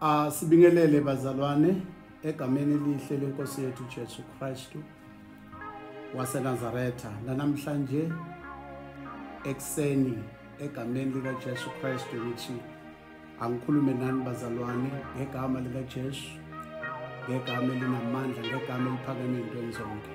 Asibingelele bazalwane egameni elihle lenkosi yethu Jesu Kristu waseNazaretha nanamhlanje ekseni egameni lika Jesu Kristu ngithi angikhulume nani bazalwane ngegama lika Jesu ngegama elinamandla ngegama eliphakeme into enzonke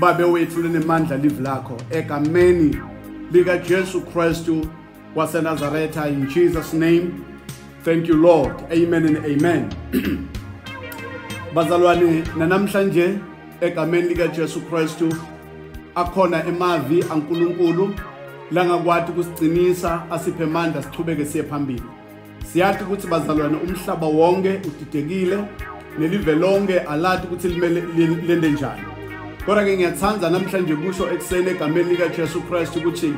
Babe wethu linemandla live lakho egameni lika Jesu Kristu wase Nazareth in Jesus name thank you Lord amen and amen Bazalwane nanamhlanje egameni lika Jesu Kristu akhona emavi aNkulunkulu langakwati kusicinisa asiphe amandla sichubeke siye phambili Siyazi ukuthi bazalwane umhlaba wonke udidekile nelive lonke alati ukuthi limele lende njani. Kodwa ke ngiyathanda namhlanje kusho ekuseni egameni lika Jesu Christ ukuthi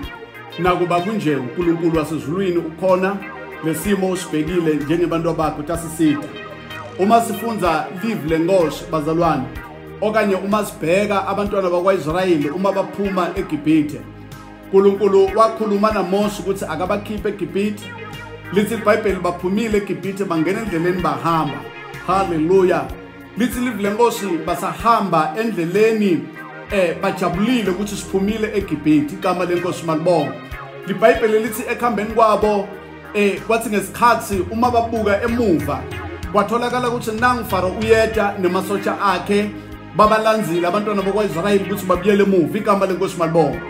nakuba kunje uNkulunkulu wasezulwini ukhona lesimo usibhekile njengebantu abakho tasiside. Uma sifunza live lenkosi bazalwane okanye uma sibheka abantwana bakwaIsrayeli uma baphuma eGibhithe uNkulunkulu wakhuluma naMose ukuthi akabakhiphe eGibhithe lithi iBhayibheli baphumile eGibhithe bangena endleleni bahamba haleluya lithi live lenkosi basahamba endleleni eh bajabulile ukuthi siphumile eGibhithe igama lenkosi malibonga liBhayibheli lithi ekhambeni kwabo eh kwathi ngesikhathi uma babuka emuva kwatholakala ukuthi nangu Faro uyeda nemasosha akhe babalandzile abantwana bakwa-israyeli ukuthi babuyele emuva igama lenkosi malibonga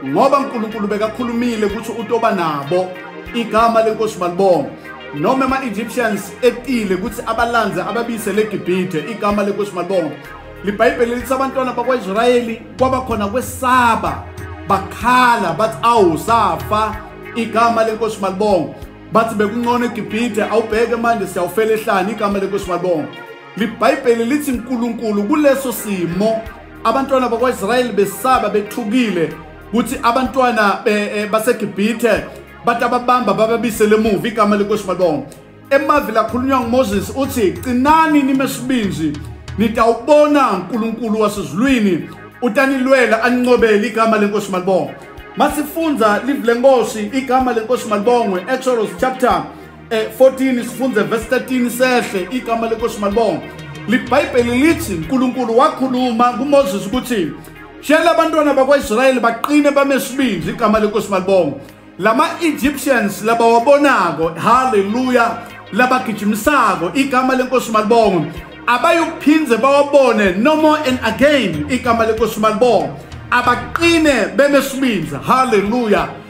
ngoba unkulunkulu bekakhulumile ukuthi utoba nabo igama lenkosi malibonga noma ema-egyptians etile ukuthi abalandze ababiyisele egibhithe igama lenkosi malibonga libhayibheli lithi abantwana bakwa-israyeli kwaba khona kwesaba bakhala bathi awu safa igama lenkosi malibonga bathi bekuncono egibhithe awubheke manje siyawufela ehlani igama lenkosi malibonga LiBhayibheli lithi uNkulunkulu kuleso simo abantwana bakwaIsrayeli besaba bethukile ukuthi abantwana eh, baseGibhithe bathi ababamba bababisele emuva igama lenkosi malibonga emavi lakhulunywa nguMoses uthi qinani nime sibinzi nitawubona uNkulunkulu wasezulwini utanilwela aninqobele igama lenkosi malibonga masifunza live lenkosi igama lenkosi malibongwe Exodus chapter Eh, 14 sifunde verse 13 sehle igama lenkosi malibonga libhayibheli lithi unkulunkulu wakhuluma kumoses ukuthi shela abantwana bakwaisrayeli baqine bame sibindi igama lenkosi malibonga lama-egyptians labawabonako halleluya labagijimisako igama lenkosi malibonga abayuphinde bawabone no more and again igama lenkosi malibonga abaqine beme sibindi halleluya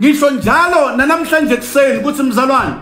ngisho njalo nanamhlanje ekuseni ukuthi mzalwane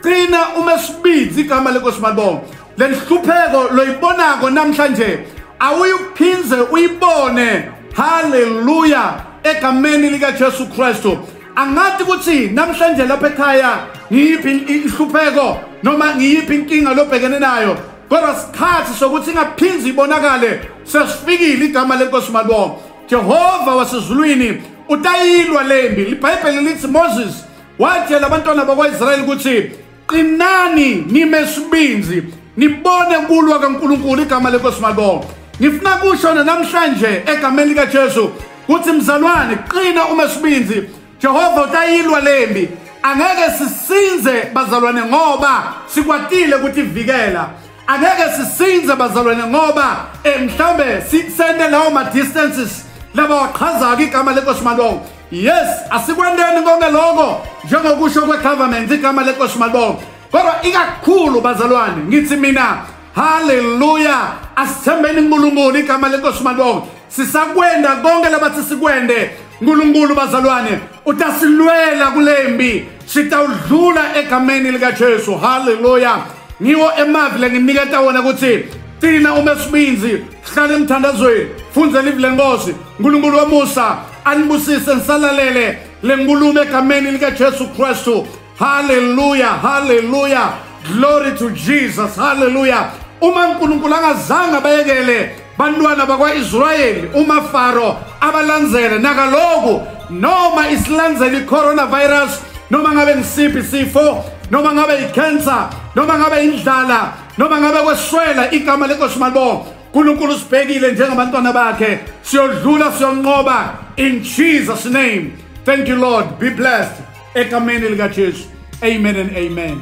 qina uma sibidzi igama lenkosi malibonga le nhlupheko loyibonako namhlanje awuyuphindze uyibone haleluya egameni likajesu kristu angathi ukuthi namhlanje lapha ekhaya ngiyiphi inhlupheko noma ngiyiphi inkinga lobhekene nayo kodwa sikhathi sokuthi ingaphindzi ibonakale sesifikile igama lenkosi malibonga Jehova wasezulwini utayilwa lembi libhayibheli lithi Moses watshela abantwana bakwaIsrayeli ukuthi qinani nime sibinzi nibone kulwa kaNkuluNkulu igama lenkosi malibonke ngifuna kusho namhlanje egameni likaJesu ukuthi mzalwane qina uma sibinzi Jehova utayilwa lembi angeke sisinze bazalwane ngoba sikwatile ukuthi vikela angeke sisinze bazalwane ngoba eh, mhlawumbe sisende lawo ma-distances laba waqhaza-ke igama lenkosi malongo yes asikwendeni konke lokho njengokusho kwe-government igama lenkosi malongo kodwa ikakhulu bazalwane ngithi mina haleluya asithembeni unkulunkulu igama lenkosi malongo sisakwenda konke labathi sikwende nkulunkulu bazalwane utasilwela kule mbi sitawudlula egameni likajesu halleluya ngiwo emavi lenginiketa wona ukuthi cina uma esibinzi hlale emthandazweni fundze livi lenkosi nkulunkulu wamusa anibusise nisalalele le nkulumo egameni likajesu kristu Hallelujah, hallelujah. Glory to Jesus. Hallelujah. Uma uNkulunkulu angazange abayekele bantwana bakwa-Israyeli umaFaro abalandzele nakaloku noma isilandzela i-coronavirus noma ngabe ngisiphi isifo noma ngabe i-cancer noma ngabe indlala noma ngabe kweswela igama lenkosi malibonga uNkulunkulu usibhekile njengabantwana bakhe siyodlula siyonqoba in Jesus name thank you lord be blessed egameni likaJesu amen and amen